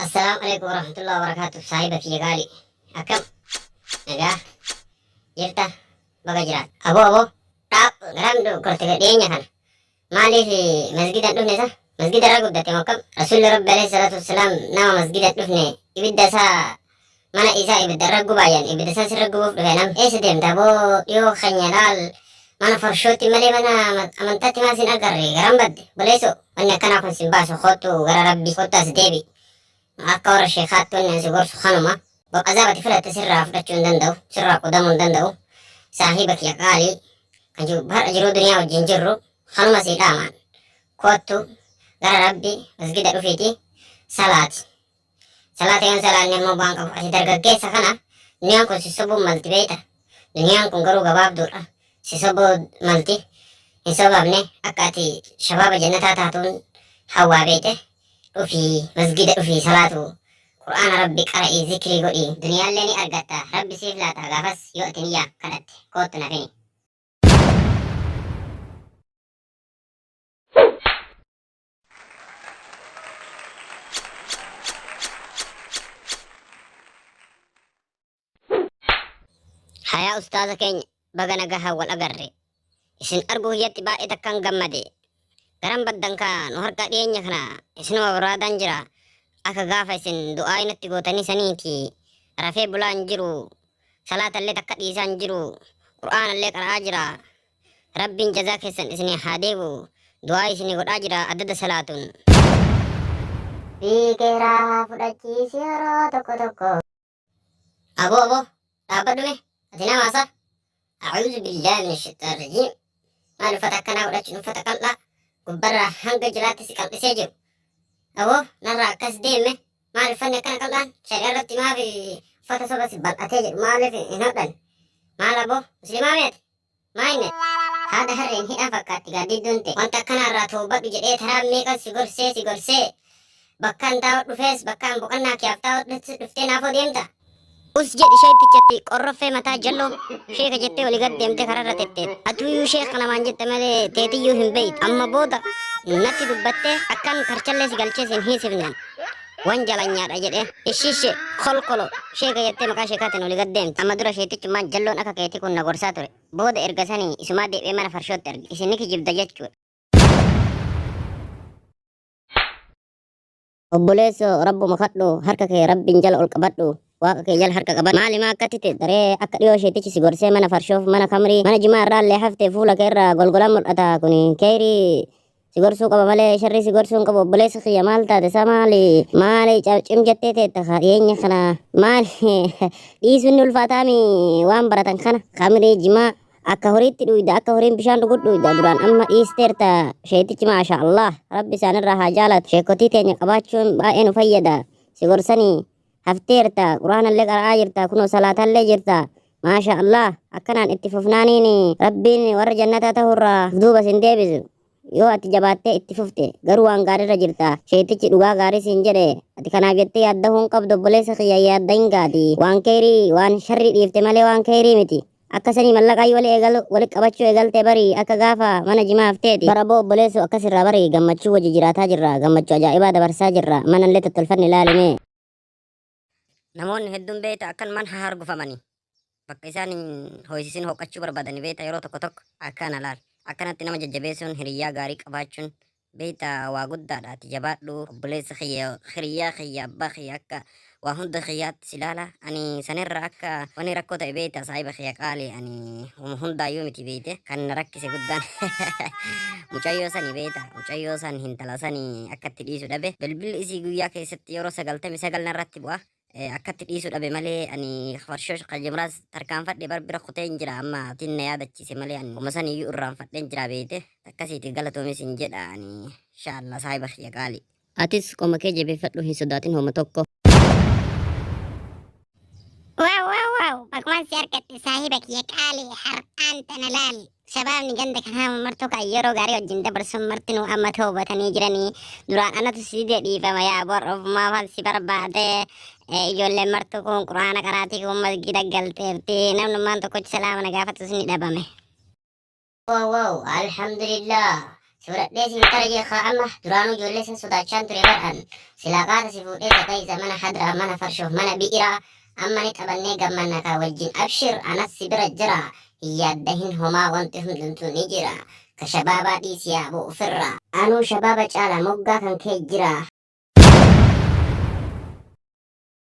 Assalaamu alaikum warahmatullahi wabarakatuh saahiba kiyya gaali akkam nagaa jirta baga jiraat abo abo dhaab garam du korte dhiyeenya kana maaliif masgidan dhufne sa masgida irra guddate moo akkam rasuulli rabbi alayhi salaatu wassalaam nama masgida dhufne ibidda isaa mana isaa ibidda irra gubaa jedhan ibidda isaa sirra gubuuf dhufe nam eessa deemta boo dhiyoo keenya laal mana farshootti malee mana amantaatti maal sin agarre garan badde boleeso wanni akkanaa kun sin baasu kottu gara rabbii kottu as deebi akka warra sheekaatti wanni ansi gorsu kanuma bab azaabati filatte sirraa fudhachuu hin danda'u sirraa qudamuu hin danda'u saahiba kiyya qaalii kan jiru har'a jiruu duniyaa wajjin jirru kanuma sii dhaamaan kottu gara rabbi masgida dhufiiti salaati Salaata yoon salaanne immoo bu'aan qabu ati dargaggeessa kana duniyaan kun si sobuun malti beeyta duniyaan kun garuu gabaabduudha si sobuu malti hin sobamne akka ati shabaaba jannataa taatuun hawwaa beeyte dhufii masgiida dhufii salaatu qur'aana rabbi qara'ii zikrii godhii duniyaallee ni argatta rabbi siif laata gaafas yoo ati niyyaa kadhatte koottu naaf himi. Hayaa ustaaza keenya baga nagahaan wal agarre. Isin arguu hiyyatti baay'ee takkaan gammade. Garan baddan kaa nu harkaa dhiyeenya kana isinuma barbaadaan jira. Akka gaafa isin du'aa inatti gootanii saniiti. Rafee bulaan jiru. Salaatallee takka dhiisaan jiru. Qur'aanallee qara'aa jira. Rabbiin jazaa keessan isinii haa deebu du'aa isinii godhaa jira addada salaatun. Fiigeeraa haa fudhachiisi yeroo tokko tokko. Aboo aboo dhaabbadhu mee ati nama haasaa. A'uuzu billaahi min shayxaan rajiim. Maal uffata akkanaa godhachuun uffata qal'aa gubbarraa hanga jalaatti si qal'isee jiru. Aboo narraa akkas deeme maal uffanni akkana qal'aan shari'a irratti maaf uffata soba si bal'atee jedhu maaliif hin hodhan. Maal aboo muslimaa meeti Maayinet, haada harreen hidhan fakkaatti gaaddiddun tee. Wanta akkanaa irraa tawbadhu jedhee taraa meeqan si gorsee si gorsee. Bakkaan taa'u dhufees bakkaan boqannaa kiyaaf taa'u dhuftee naafoo deemta. Us jedhi sheeytichatti qorroffee mataa jalloo sheeka jettee oli gad deemtee kararra tetteet. Atuyyuu sheeka namaan jette malee teetiyyuu hin beeytu. Amma booda natti dubbattee akkan karchallee si galchee sin hiisifneen. Wanjalanyaadha jedhee ishii ishee kolkolo sheeka jettee maqaa sheekaatiin olii gad deemte. Amma dura sheetichummaan jalloon akka keetii kun na gorsaa ture. Booda erga sanii isumaa deebi'ee mana farshootti arge. Isin ni kijibda jechuudha. Obboleesso rabbuma kadhu harka kee rabbiin jala ol qabadhu. Waaqa kee jala harka qabadhu. Maali maa akkatti ta'e daree akka dhiyoo sheetichi si gorsee mana farshoof mana kamrii mana jimaa irraa illee haftee fuula kee irraa golgolaan mul'ata kuni keeyrii Si gorsuu qaba malee sharrii si gorsuu hin qabu obboleessa kiyya maal taate isaa maali maali ca- cim jettee teetta ka dhiyeenya kana maali dhiisuun ni ulfaataami waan baratan kana kamirii jimaa akka horiitti dhuyda akka horiin bishaan dhugu dhuyda duraan amma dhiisteerta sheetichi maasha allah rabbi isaanirraa haa jaalatu sheekotii teenya qabaachuun baay'ee nu fayyada si gorsanii hafteerta quraanallee qara'aa jirta kunoo salaatallee jirta maasha allah akkanaan itti fufnaaniin rabbiin warra jannataa ta'urraa duuba sin deebisu yoo ati jabaattee itti fufte garuu waan gaariirra jirta sheetichi dhugaa gaarii siin jedhe ati kanaaf jettee yaadda hin qabdu obboleessa kiyya yaadda hin gaati waan keerii waan sharrii dhiifte malee waan keerii miti Akka sanii mallaqaayyuu wali eegalu wali qabachuu eegalte barii akka gaafa mana jimaa hafteeti. Bara boo obboleessoo akkas irraa barii gammachuu wajji jiraataa jirra gammachuu ajaa'ibaa dabarsaa jirra manallee tottolfanne ilaali mee. Namoonni hedduun beeyta akkan man hahargufamanii bakka isaan hin hooyisisin hooqachuu barbaadani beeyta yeroo tokko tokko akkana laal. Akkanatti nama jajjabeessuun hiriyyaa gaarii qabaachuun beeyta waa guddaadha ati jabaadhu obboleessa kiyya hiriyyaa kiyya abbaa kiyya akka waa hunda kiyyaatti si laala ani sanirra akka wani rakkoo ta'e beeyta saahiba kiyya qaali ani homa hundaayyuu miti beeyte kan na rakkise guddaan mucayyoo sani beeyta mucayyoo san hintala sani akka itti dhiisu dhabe bilbilli isii guyyaa keessatti yeroo sagaltami sagal narratti bu'a Eh, akkatti dhiisuu dhabe malee ani farshoo qayyimraas tarkaanfadhe bar bira kuteen jira amma atiin na yaadachiise malee ani kuma san iyyuu irraanfadheen jira beete takkasiiti galatoomis hin jedha ani inshaallah saahiba kiyya qaali. Atis qoma kee jabeeffadhu hin sodaatin homa tokko. Wow, wow, wow. Bagumaan si argadhe saahiba kiyya qaali har'aan tana laali. Shabaabni ganda kanaa martuu kan yeroo gaarii wajjin dabarsuun martinuu amma toobatanii jiranii duraan anatu si dide dhiifama yaa bor ofumaa fal si barbaade Eh, ijoolleen martuu kun quraana qaraatii kun masgiida galteerti namnummaan tokkochi salaama na gaafatus ni dhabame. Wow, wow, alhamdulillah. Sodadhee sin qara jee kaa amma duraanuu ijoollee san sodaachaan ture bar an silaa qaata si fuudhee isa ta'iisa mana hadraa mana farshoo mana bi'iraa amma ni taphannee gammanna kaa wajjin abshir anas si bira jira hin yaaddahin homaa wanti hundumtuu ni jira ka shabaabaa dhiisi yaa boo ufirraa anuu shabaaba caala moggaa kan kee jira.